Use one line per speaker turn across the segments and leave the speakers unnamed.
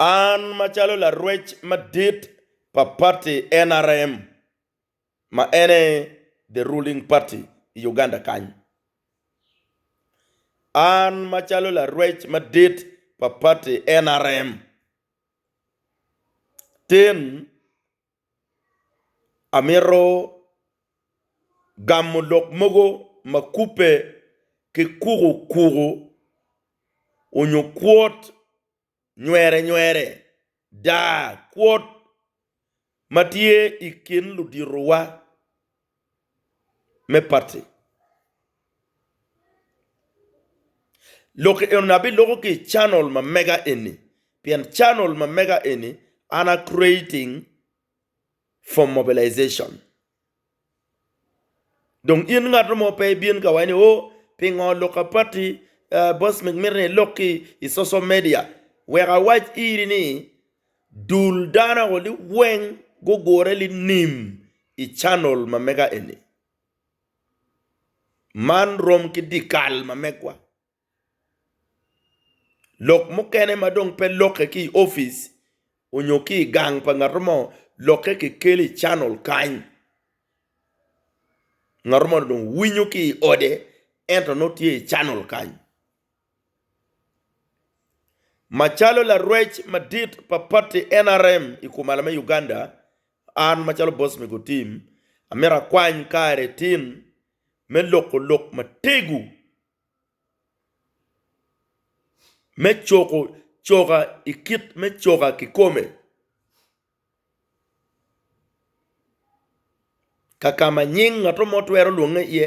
An macalo larwec madit pa pati nrm ma en aye the ruling party i Uganda kany, an macalo larwec madit pa pati nrm tin Amito gamo lok mogo ma kubbe ki kukukuku onyo kwot nywerenywere, daa kwot ma tye i kin luditowa. me pati. Lok enoni abiloko ki i channel ma mega eni pien channel ma mega eni an a creating for mobilization. Dong in ngat mo pe ibin ka wai ni oh pingo lok a pati boss mito ni ilok ki i social media wek awac iri ni Dul dano ni weng gugure linim i channel ma mega eni. Man rom ki dikal ma megwa. Lok mukene ma dong pe lokke ki i opic onyo ki i gang pa ngat mo lokke ki kelo i channel kany. Ngat mo ni dong winyo ki i ode ento nongo tye i channel kany. Macalo larwec madit pa pati NRM i kumalo me Uganda, an macalo bot mego tim, amito akwany kare tim me loko lok mategu me cuko coka i kit me coka kikome kakama nying ngato mo twero lwonge iye.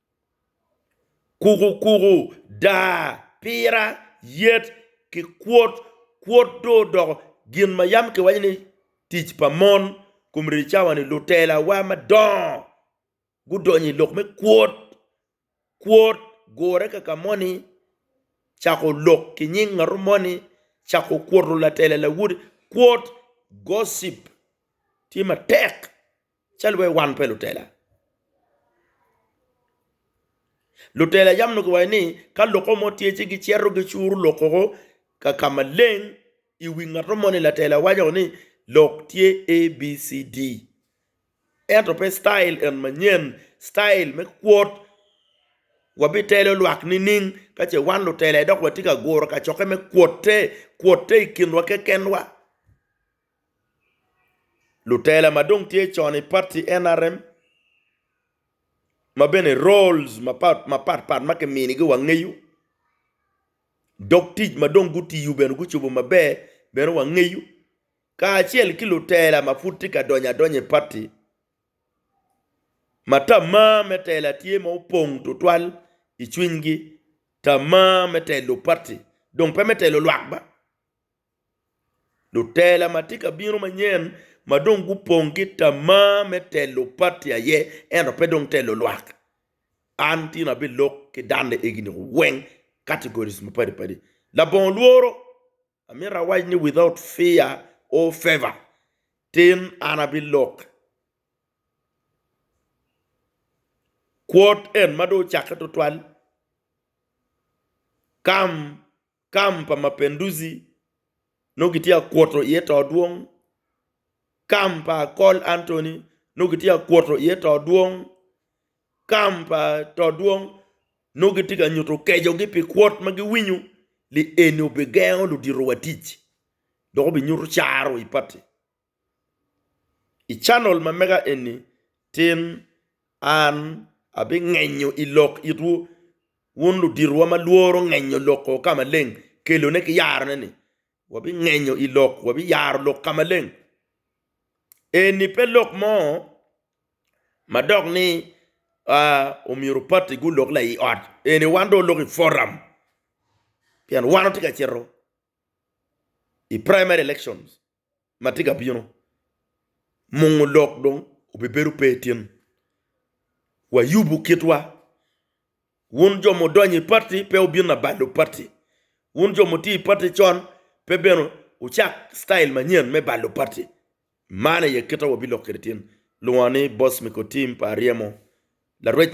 Kukukuku, daa, pira, yet, ki kwot. Kwot dong odoko gin ma yam kiwaco ni tic pa mon. Kom rye cawa-ni, lutelawa madongo gudonyo i lok me kwot. Kwot gure kaka moni, cako lok ki nying ngatu moni, cako kwoto latela lawoti. Kwot, gossip, tye matek Calo wai wan pe lutela. Lutela yam onongo kiwaco ni ka lokke mo tye ci gicito gicuru lokke ka ka maleng i wi ngat mo ni latela waco ni lok tye ABCD. Ento pe citayil en manyen, citayil me kwot wabitelo lwak nining ka ce wan lutela dok watye ka guro kacokke me kwotte, kwotte i kinwa kekenwa. Lutela ma dong tye con i pati nrm ma bene roles mapat pat ma kiminigi wangeyo dok tic ma dong gutiyo bene gucobo maber bene wangeyo kacel ki lutela ma pud tye ka donyo adonya i pati ma tamar me tela tye ma opong tutwal i cwinygi tamar me telo pati dong pe me telo lwak ba. Lutela ma tye ka bino manyen ma dong gupong ki tamar me telo pati aye ento pe dong telo lwak. An tin abilok ki danne egini weng categories mapadi padi. Labongo lworo amito awac ni without fear or favour tin an abilok kwot en ma dong ocakke tutwal come Kam pa Mapenduzi nongo kitye ka kuto iye to dwong, kam pa Akol Anthony nongo kitye ka kuto iye to dwong, kam pa to dwong nongo gitye ka nyuto kecogi pi kwot ma giwinyo ni eni obigengo luditowa tic dok obinyuto caro i pati. I canol ma mega eni tin an abingenyo i lok itwu wun luditowa ma lworo ngenyo lok o ka maleng kelone ki yarone-ni wabingenyo i lok wabiyaro lok ka maleng. Eni pe lok mo ma dok ni omyero pati gulok la i ot eni wan dong olok i foram pien wan watye ka cito i primary elections. ma tye ka bino, mungo lok dong obibedo pe itin. Wayubu kitwa. Wun jo mudonyo i pati pe wubin labalo pati. Wun jo mutye i pati con pe bene wucak citayil manyen me balo pati. Man aye kite wabilok kwede itin, lwongo ni Boss Miko Tim pa Aryemo, larwec